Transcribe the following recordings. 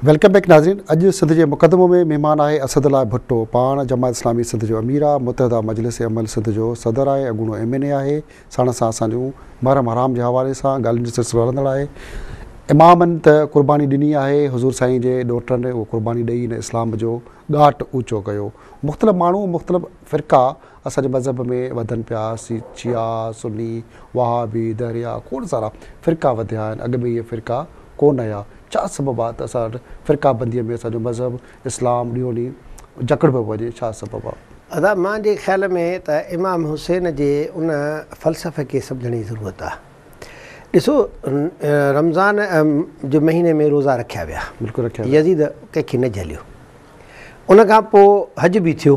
Welcome back ناظرين اڄ سنڌ جي مقدمو ۾ مهمان آهي اسد الله ڀٽو پاڻ جماعت اسلامي سنڌ جو امير آهي متحده مجلس عمل سنڌ جو صدر آهي اڳوڻو ايم اين اي آهي ساڻس سان اسان جون محرم حرام جي حوالي سان ڳالهين جو سلسلو هلندڙ آهي امامن ته قرباني ڏني آهي حضور سائين جي ڏوهٽن اهو قرباني ڏئي هن اسلام جو ڳاٽ اوچو ڪيو مختلف ماڻهو مختلف فرقا اسان جي مذهب ۾ وڌن پيا، شيعا، سني، وهابي، دهريا، کوڙ سارا فرقا وڌيا آهن، اڳ ۾ اهي فرقا ڪونه هيا، ڇا سبب آهي ته اسان وٽ فرقا بنديء ۾ اسان جو مذهب اسلام ڏينهون ڏينهن جڪڙ پيو وڃي، ڇا سبب آهي؟ ادا مان جي خيال ۾ ته امام حسين جي ان فلسفي کي سمجهڻ جي ضرورت آهي. ڏسو رمضان جي مهيني ۾ روزا رکيا ويا، يزيد ڪنهن کي نه جهليو، ان کان پوء حج به ٿيو،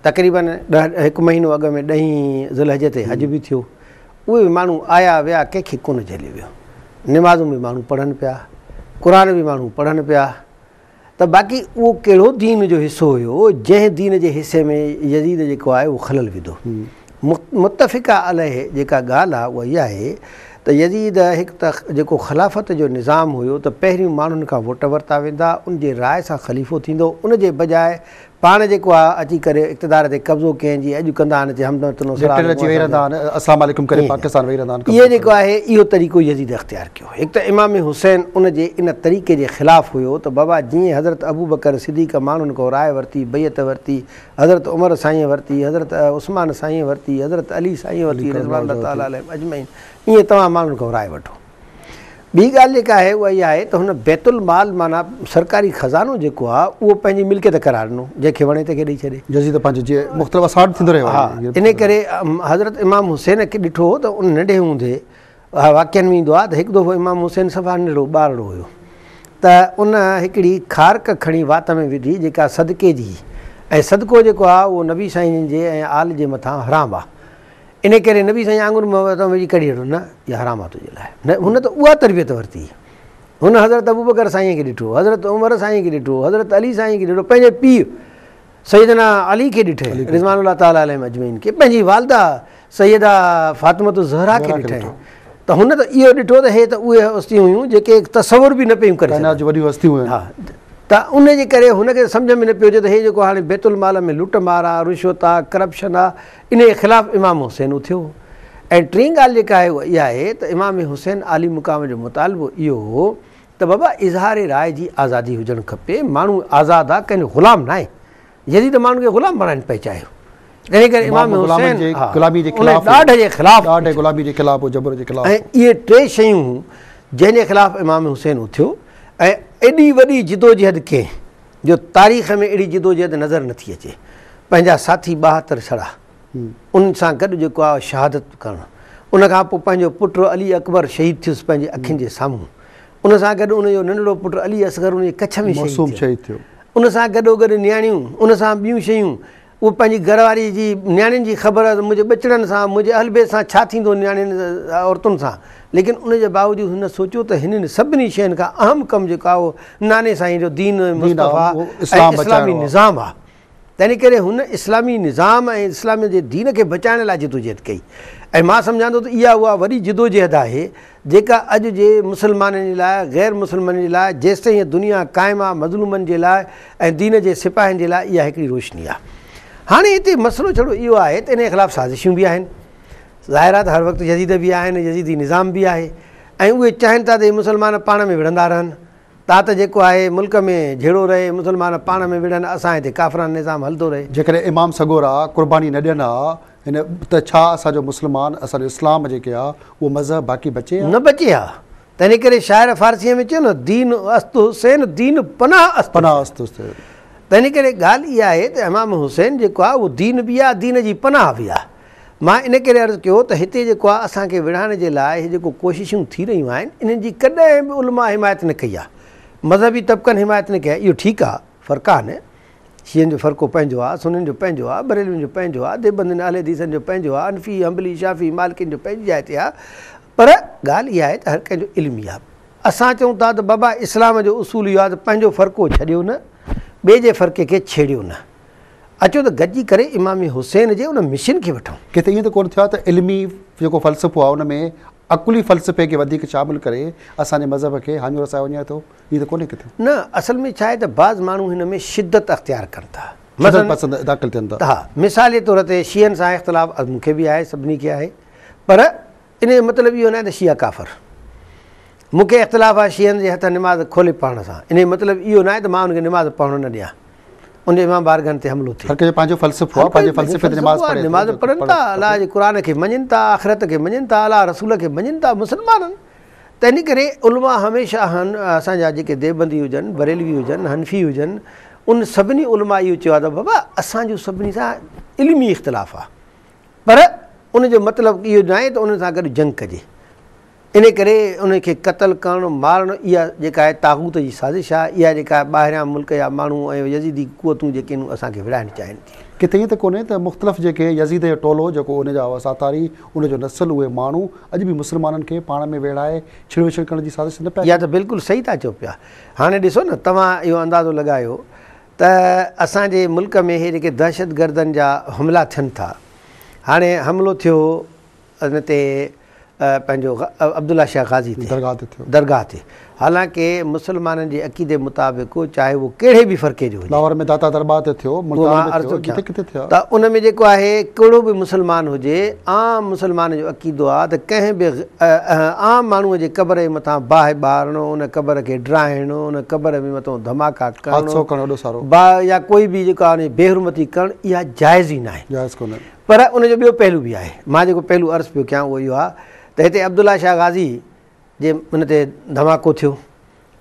تقريبن ڏهه هڪ مهينو اڳ ۾ ڏهين ذوالحجه تي حج به ٿيو اهي به ماڻهو آيا ويا ڪنهن کي ڪونه جهلي ويو نمازون به ماڻهو پڙهن پيا قرآن به ماڻهو پڙهن پيا ته باقي اهو ڪهڙو دين جو حصو هيو جنهن دين جي حصي ۾ يزيد جيڪو آهي اهو خلل وڌو متفقه عليه جيڪا ڳالهه آهي اها اها آهي ته يزيد هڪ ته جيڪو خلافت جو نظام هيو ته پهريون ماڻهن کان ووٽ ورتا ويندا ان جي راء سان خليفو ٿيندو ان جي بجاء پاڻ جيڪو آ اچي ڪري اقتدار تي قبضو ڪنهن جي اڄ ڪندا آهن اچي همدم تنو سرا لٽيل اچي ويهي رهندا آهن اسلام عليڪم ڪري پاڪستان ويهي رهندا آهن قبضو اهي ڪرڻ جيڪو آهي اهو طريقو يزيد اختيار ڪيو هڪ ته امام حسين ان جي ان طريقي جي خلاف هيو ته بابا جيئن حضرت ابوبڪر صديق ماڻهن کان راء ورتي بيعت ورتي حضرت عمر سائينء ورتي حضرت عثمان سائينء ورتي حضرت علي سائينء علي ورتي ڪرم الله رضوان الله وجهه تعالٰي ورتي عليهم اجمعين ايئن توهان ماڻهن کان راء وٺو. ٻي ڳالهه جيڪا آهي اها اها آهي ته هن بيت المال معنيٰ سرڪاري خزانو جيڪو آهي اهو پنهنجي ملڪيت قرار ڏنو جنهن کي وڻي تنهن کي ڏئي ڇڏي. يزيد پنهنجو جي مختلف اسارت ٿيندو رهيو آهي. ها انهي ڪري حضرت امام حسين کي ڏٺو هو ته ان ننڍي هوندي واقعن ۾ ايندو آهي ته هڪ دفعو امام حسين صفا ننڍڙو ٻارڙو هيو ته ان هڪڙي کارڪ کڻي وات ۾ وڌي جيڪا صدقي جي هئي ۽ صدقو جيڪو آهي اهو نبي سائين جي ۽ آل جي مٿان حرام آهي انهيء ڪري نبي سائين آڱر مان ويهه ويجهي ڪڍي وٺو، نه، اها حرام آهي تنهنجي لاء. نه، هن ته اها تربيت ورتي. هن حضرت ابوبڪر سائينء کي ڏٺو، حضرت عمر سائينء کي ڏٺو، حضرت علي سائينء کي ڏٺو، پنهنجي پيء سيدنا علي کي ڏٺئي رضوان الله تعالٰي عليهم اجمعين کي، پنهنجي والده سيده فاطمة الزهراء کي ڏٺئي ته هن ته اهو ڏٺو ته هي ته اهي هستيون هيون جيڪي تصور به نه پيون ڪري سگهن. ڪائنات جون وڏيون هستيون هيون. ها، ته انهيء جي ڪري هن کي سمجهه ۾ نه پيو اچي ته هي جيڪو هاڻي بيت المال ۾ لٽ مار آهي، رشوت آهي، ڪرپشن آهي، انهيء خلاف امام حسين اٿيو ۽ ٽين ڳالهه جيڪا آهي اها اها آهي ته امام حسين عالي مقام جو مطالبو اهو هو ته بابا اظهار راء جي آزادي هجڻ کپي، ماڻهو آزاد آ ڪنهن جو غلام ناهي، يزيد ماڻهن کي غلام بڻائڻ پئي چاهيو. انهيء ڪري امام حسين ان ڏاڍ جي خلاف اٿيو ۽ اهي ٽي شيون هيون جنهن جي خلاف امام حسين اٿيو ۽ ايڏي وڏي جدوجهد ڪنهن. جو تاريخ ۾ اهڙي جدوجهد نظر نه ٿي اچي. پنهنجا ساٿي ٻاهتر ڇڙا، انهن سان گڏ جيڪو آء شهادت ڪرڻ، ان کان پوء پنهنجو پٽ علي اڪبر شهيد ٿيس پنهنجي اکين جي سامهون. ان سان گڏ ان جو ننڍڙو پٽ علي اصغر ان جي ڪڇ ۾ شهيد ٿيو. ان سان گڏوگڏ نياڻيون، ان سان ٻيون شيون اهو پنهنجي گهر واري جي نياڻين جي خبر هئس منهنجي ٻچڙن سان منهنجي اهل بيت سان ڇا ٿيندو نياڻين عورتن سان ليڪن ان جي باوجود هن سوچيو ته هنن سڀني شين کان اهم ڪم جيڪو آهي اهو ناني سائين جو دين مصطفيٰ ۽ اسلامي نظام آهي تنهن ڪري هن اسلامي نظام ۽ اسلام جي دين کي بچائڻ لاء جدوجهد ڪئي ۽ مان سمجهان ٿو ته اها اها وڏي جدوجهد آهي جيڪا اڄ جي مسلمانن جي لاء غير مسلمانن جي لاء جيستائين هيء دنيا قائم آ مظلومن جي لاء ۽ دين جي سپاهين جي لاء اها هڪڙي روشني آ هاڻي هتي مسئلو جھڙو اهو آهي ته انهي خلاف سازشيون به آهن ظاهر آ ته هر وقت يزيد به آهن ۽ يزيدي نظام به آهي ۽ اهي چاهين ٿا ته هي مسلمان پاڻ ۾ وڙهندا رهن تات جيڪو آهي ملڪ ۾ جھڙو رهي مسلمان پاڻ ۾ وڙهن اسان هتي ڪافرانه نظام هلندو رهي. جيڪڏهن امام سڳورا قرباني نه ڏين ها هن ته ڇا اسان جو مسلمان اسان جو اسلام جيڪي آ اهو مذهب باقي بچي آ؟ نه بچي آ تنهن ڪري شاعر فارسيء ۾ چيو نه دين است حسين دين پناه است پناه است حسين. تنهن ڪري ڳالهه اها آهي ته امام حسين جيڪو آ اهو دين به آ دين جي پناه به آ مان ان ڪري عرض ڪيو ته هتي جيڪو آ اسان کي وڙهائڻ جي لاء هي جيڪو ڪوششون ٿي رهيون آهن انهن جي ڪڏهن به علماء حمايت نه ڪئي آ مذهبي طبقن حمايت نه ڪئي آ اهو ٺيڪ آ فرقان شيعن جو فرقو پنهنجو آ، سنين جو پنهنجو آ، بريلوين جو پنهنجو آ، ديوبندين اهل حديثن جو پنهنجو آ، حنفي، حنبلي، شافعي، مالڪين جو پنهنجي جاء تي آ، پر ڳالهه اها آهي ته هر ڪنهن جو علم اها آ. اسان چئون ٿا ته بابا اسلام جو اصول اهو آ ته پنهنجو فرقو ڇڏيو نه، ٻئي جي فرقي کي ڇيڙيو نه. اچو ته گڏجي ڪري امام حسين جي ان مشن کي وٺون. ڪٿي ائين ته ڪونه ٿيو آ ته علمي جيڪو فلسفو آ ان ۾ عقلي فلسفي کي وڌيڪ شامل ڪري اسان جي مذهب کي هاڃو رسايو وڃي ٿو، ائين ته ڪونهي ڪٿي؟ نه، اصل ۾ ڇا آهي ته بعض ماڻهو هن ۾ شدت اختيار ڪن ٿا. شدت پسند داخل ٿين ٿا. ها، مثال جي طور تي شيعن سان اختلاف مون کي به آهي، سڀني کي آهي، پر ان جو مطلب اهو ناهي ته شيعا ڪافر. مون کي اختلاف آهي شيعن جي هٿان نماز کولي پڙهڻ سان، ان جو مطلب اهو ناهي ته مان انهن کي نماز پڙهڻ نه ڏيان. ان امام بارگاهن تي حملو ٿئي. هر ڪنهن جو پنهنجو فلسفو آهي، پنهنجي فلسفي تي نماز پڙهي ٿو. نماز پڙهن ٿا، الله جي قرآن کي مڃين ٿا، آخرت کي مڃين ٿا، الله رسول کي مڃين ٿا، مسلمان آهن. تنهن ڪري علماء هميشه اسان جا جيڪي ديوبندي هجن، بريلوي هجن، حنفي هجن، انهن سڀني علماء اهو چيو آهي ته بابا اسان جو سڀني سان علمي اختلاف آهي پر ان جو مطلب اهو ناهي ته انهن سان گڏ جنگ ڪجي. انهيء ڪري انهن کي قتل ڪرڻ، مارڻ، اها جيڪا آهي طاغوت جي سازش آهي، اها جيڪا آهي ٻاهريان ملڪ جا ماڻهو ۽ يزيدي قوتون جيڪي نون اسان کي وڙهائڻ چاهين ٿيون. ڪٿي ائين ته ڪونهي ته مختلف جيڪي يزيد جو ٽولو جيڪو انهيء جا هئا ساتاري، انهيء جو نسل، اهي ماڻهو اڄ به مسلمانن کي پاڻ ۾ ويڙهائي ڇڙ وڇڙ ڪرڻ جي سازش ته نه پيا ڪن؟ اها ته بلڪل صحيح ٿا چئو پيا. هاڻي ڏسو نه توهان اهو اندازو لڳايو ته اسان جي ملڪ ۾ اهي جيڪي دهشتگردن جا حملا ٿين ٿا، هاڻي حملو ٿيو هو، ان تي پنهنجو عبدالله شاهه غازي تي درگاهه تي ٿيو. درگاهه تي. حالانڪ مسلمانن جي عقيدي مطابق چاهي اهو ڪهڙي به فرقي جو هجي. لاهور ۾ داتا دربار تي ٿيو، ملتان ۾ ٿيو، جتي ڪٿي ٿيا. ته ان ۾ جيڪو آهي ڪهڙو به مسلمان هجي عام مسلمان جو عقيدو آ ته ڪنهن به عام ماڻهوء جي قبر جي مٿان باهه ٻارڻو، ان قبر کي ڊاهڻو، ان قبر ۾ مٿو ڌماڪا ڪرڻو. حادثو ڪرڻ اڏو سارو. با يا ڪوئي به جيڪو آ ان جي بي حرمتي ڪرڻ اها جائز ئي ناهي. جائز ڪونهي. پر ان جو ٻيو پهلو به آهي. مان جيڪو پهلو عرض پيو ڪيان اهو اهو آهي ته هتي عبدالله شاهه غازي جي ان تي ڌماڪو ٿيو.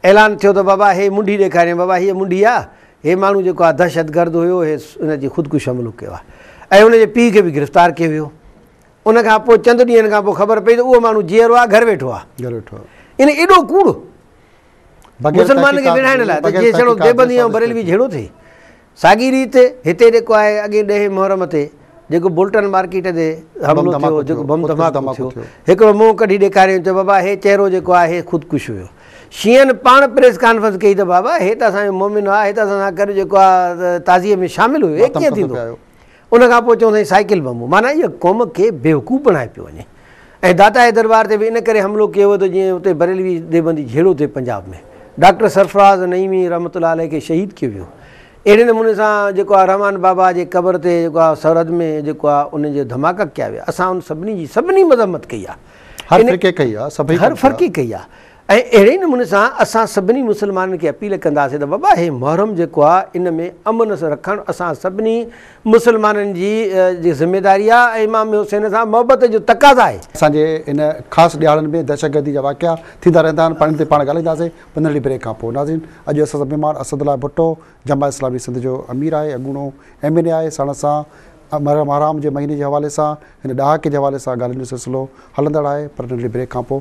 اعلان ٿيو ته بابا هي منڍي ڏيکارين بابا هيء منڍي آ، هي ماڻهو جيڪو آ دهشتگرد هيو هي ان جي خودڪش حملو ڪيو آ ۽ هن جي پيء کي به گرفتار ڪيو ويو. ان کان پوء چند ڏينهن کان پوء خبر پئي ته اهو ماڻهو جيئرو آ گهر ويٺو آ. گهر ويٺو آ. يعني ايڏو ڪوڙ. بغير تحقيقات جي. مسلمانن کي وڙهائڻ لاء ته جيئن سهڻو ديوبندي ۽ بريلوي جهيڙو ٿئي. ساڳي ريت هتي جيڪو آهي اڳين ڏهين محرم تي جيڪو بولٽن مارڪيٽ تي حملو ٿيو جيڪو بم ڌماڪو ٿيو هڪڙو منهن ڪڍي ڏيکاريائين چيو بابا هي چهرو جيڪو آهي هي خودڪش هيو شيعن پاڻ پريس ڪانفرنس ڪئي ته بابا هي ته اسان جو مومن آهي هي ته اسان سان گڏ جيڪو آهي تعزيي ۾ شامل هيو هي ڪيئن ٿيندو ان کان پوء چون ٿا هي سائيڪل بم هو. معنيٰ اهو قوم کي بيوقوف بڻائي پيو وڃي ۽ داتا جي دربار تي به ان ڪري حملو ڪيو ويو ته جيئن اتي بريلوي ديوبندي جهيڙو ٿئي پنجاب ۾ ڊاڪٽر سرفراز نعيمي رحمة الله عليه کي شهيد ڪيو ويو اهڙي نموني سان جيڪو آهي رحمان بابا جي قبر تي جيڪو آهي سرحد ۾ جيڪو آهي ان جي ڌماڪا ڪيا ويا اسان ان سڀني جي سڀني مذمت ڪئي آهي هر فرقي ڪئي آهي سڀئي هر فرقي ڪئي آهي ۽ اهڙي ئي نموني سان اسان سڀني مسلمانن کي اپيل ڪنداسين ته بابا هي محرم جيڪو آ ان ۾ امن رکڻ اسان سڀني مسلمانن جي جي ذميداري آ ۽ امام حسين سان محبت جو تقاضا آهي. اسان جي ان خاص ڏهاڙن ۾ دهشتگردي جا واقعا ٿيندا رهندا آهن پاڻ تي پاڻ ڳالهائينداسين پر ننڍڙي بريڪ کان پوء ناظرين اڄ اسان سان مهمان اسد الله ڀٽو جماعت اسلامي سنڌ جو امير آهي اڳوڻو ايم اين اي آهي ساڻس اسان محرام جي مهيني جي حوالي سان هن ڏهاڪي جي حوالي سان ڳالهين جو سلسلو هلندڙ آهي پر ننڍڙي بريڪ کان پوء